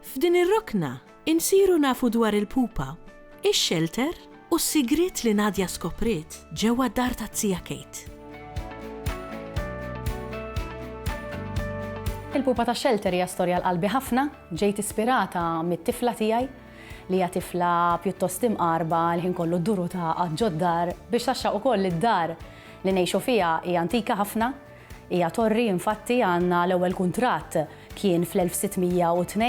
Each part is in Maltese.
F'din ir-rokna insiru nafu dwar il-pupa, ix-xelter u s-sigriet li Nadia skopriet ġewwa d-dar tat-tija Kate. Il-pupa tax-xelter hija storja għal qalbi ħafna. Ġejt ispirata mit-tifla tiegħi, li hija tifla pjuttost imqarba, l-ħin kollu ddur u tagħqad ġod-dar, biex taxxaq ukoll li d-dar li ngħixu fiha hija antika ħafna. Hija torri infatti għandna l-ewwel kuntratt kien fl-1602.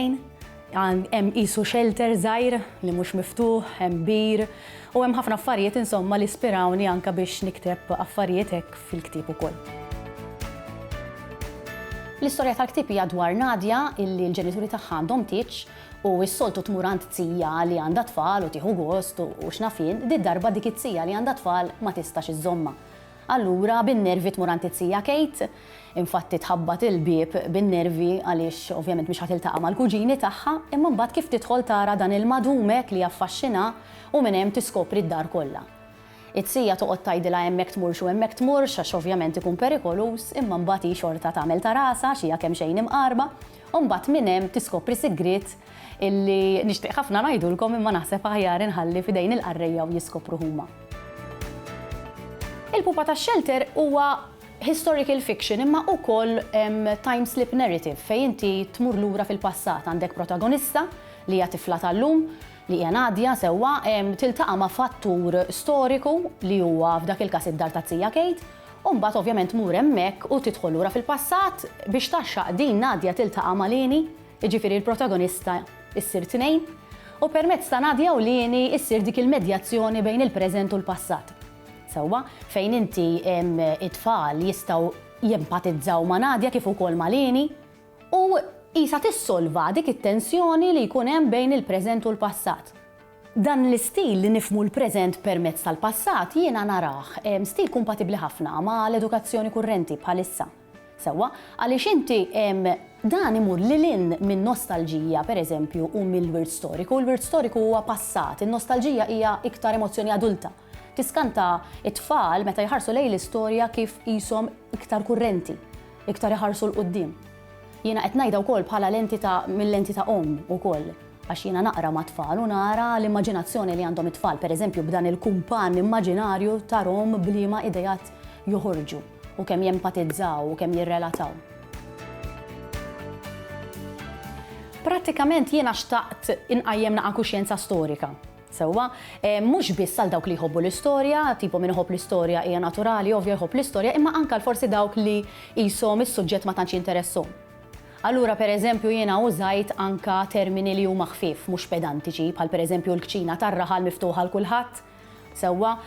Hemm qisu xelter żgħir li mhux miftuħ, hemm bir, u hemm ħafna affarijiet insomma li spirawni anke biex nikteb affarijiet hekk fil-ktieb ukoll. L-istorja tal-ktieb hija dwar Nadia illi l-ġenituri tagħha għandhom tieġ u s-soltu tmur għand zija li għandha tfal u tieħu gost u x'naf jien, did-darba dik it-zija li għandha tfal ma tistax iżżommha. Allura, bin-nervi tmur għand it-tija Kate. Infatti tħabbat il-bieb bin-nervi għaliex ovvjament mhix ħa tiltaqa' mal-kuġini tagħha, imma mbagħad kif tidħol tara dan il-madum hekk li jaffaxxinha u minn hemm tiskopri d-dar kollha. It-tija toqgħod tgħidilha hemmhekk tmurx u hemmhekk tmurx għax ovvjament ikun perikoluż, imma mbagħad hi xorta tagħmel ta' rasha għax hija kemxejn imqarba. U mbagħad minn hemm tiskopri sigriet illi nixtieq ħafna ngħidulkom imma naħseb aħjar inħalli f'idejn il-qarrejja u jiskopru huma. Il-Pupa tax-Xelter huwa historical fiction imma ukoll time slip narrative fejn inti tmur lura fil-passat. Għandek protagonista li hija tifla tal-lum, li hija Nadia sewwa, tiltaqa' ma' fattur storiku li huwa f'dak il-każ id-dar ta' Zija Kate, U mbagħad ovvjament tmur hemmhekk u tidħol lura fil-passat biex tgħaxxaq din Nadia tiltaqa' ma' Lini, jiġifieri l-protagonista ssir tnejn, u permezz ta' Nadia u Lini ssir dik il-medjazzjoni bejn il-preżent u l-passat. Sewwa? Fejn inti it-tfal jistgħu jempatizzaw ma' Nadia kif ukoll ma' Lini u qisha tissolva dik it-tensjoni li jkun hemm bejn il-preżent u l-passat. Dan l-istil li nifhmu l-preżent permezz tal-passat jiena narah stil kumpatibbli ħafna ma' l-edukazzjoni kurrenti bħalissa. Sewwa, għaliex inti dan imur lil hinn min-nostalġija, per eżempju, u mill-wirt storiku. Il-wirt storiku huwa passat, in-nostalġija hija iktar emozzjoni adulta. Tiskanta t-tfal meta jħarsu lejn l-istorja kif qishom iktar kurrenti, iktar iħarsu 'l quddiem. Jiena qed ngħidha wkoll bħala lenti ta' mil-lenti ta' omm ukoll għax jiena naqra mat-tfal u nara l-immaġinazzjoni li għandhom it-tfal pereżempju b'dan il-kumpann immaġinarju tarhom b'liema ideat joħorġu u kemm jempatizzaw u kemm jirrelataw. Prattikament jiena xtaqt inqajjem naqa' kuxjenza storika. Sewwa, mhux biss għal dawk li jħobbu l-istorja, tipo min iħobb l-istorja hija naturali ovvja jħobb l-istorja, imma anke għal forsi dawk li qishom is-suġġett ma tantx jinteressahom. Allura per eżempju jiena użajt anke termini li huma ħfief, mhux pedantiċi, bħal per eżempju l-kċina tar-raħal miftuħa għal kulħadd, sewwa,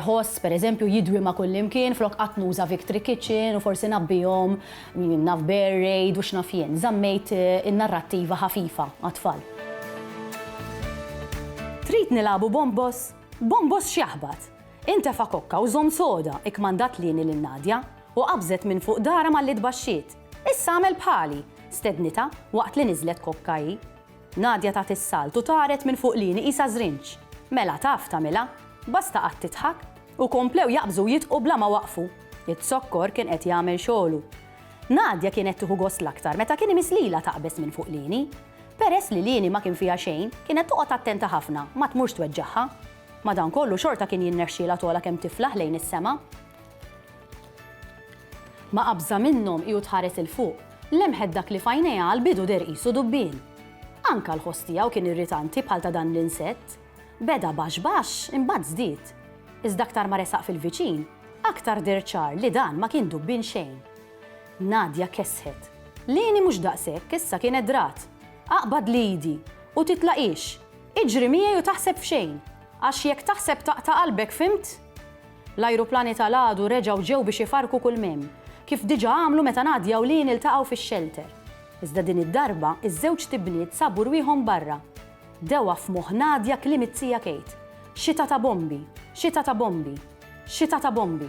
ħoss, per eżempju, jidwi ma' kullimkien flok qatt nuża victory kitchen u forsi ngħabbihom Min naf bear raid u x'naf jien. Żammejt in-narrattiva ħafifa għat-tfal. Trid nilagħbu bombos? Bombos x'jaħbat? Intefa' kokka u żomm soda, ikkmandat Lieni lil Nadia, u qabżet minn fuq darha malli tbaxxiet. Issa agħmel bħali! stednitha waqt li niżlet kokka hi. Nadia tat is-salt u taret minn fuq lieni qisha żrinġ. Mela taf tagħmilha. Basta qgħadt tidħak. U komplew jaqbżu u jidqu bla ma waqfu. Iz-zokkor kien qed jagħmel xogħlu. Nadia kienet tieħu gost l-aktar meta kien imiss lilha taqbeż minn fuq lieni. Peress li lieni ma kien fiha xejn, kienet toqgħod attenta ħafna ma tmurx tweġġagħha. Madankollu xorta kien jinnexxielha togħla kemm tiflaħ lejn is-sema. Ma qabżha minnhom hi u tħares 'il fuq. Lemħet dak li f'għajnejha għall-bidu deher qisu dubbien. Anke l-ħoss tiegħu kien irritanti bħal ta' dan l-insett. Beda baxx baxx, imbagħad żdied. Iżda aktar ma resaq fil-viċin, aktar deher ċar li dan ma kien dubbien xejn. Nadia kessħet. Lini mhux daqshekk, issa kienet drat. Aqbadli idi, u titlaqhiex. Iġri miegħi u taħseb f'xejn. Għax jekk taħseb taqta' qalbek, fhimt? L-ajruplani ta' l-għadu reġgħu ġew biex ifarrku kull m'hemm, kif diġà għamlu meta ngħad Jawlien iltaqgħu fix-xelter. Iżda din id-darba, iż-żewġt ibniet sabu rwieħhom barra. Dewa f'moħħ Nadia kliem it-tija Kate, Xita ta' bombi! Xita ta' bombi! Xita ta' bombi!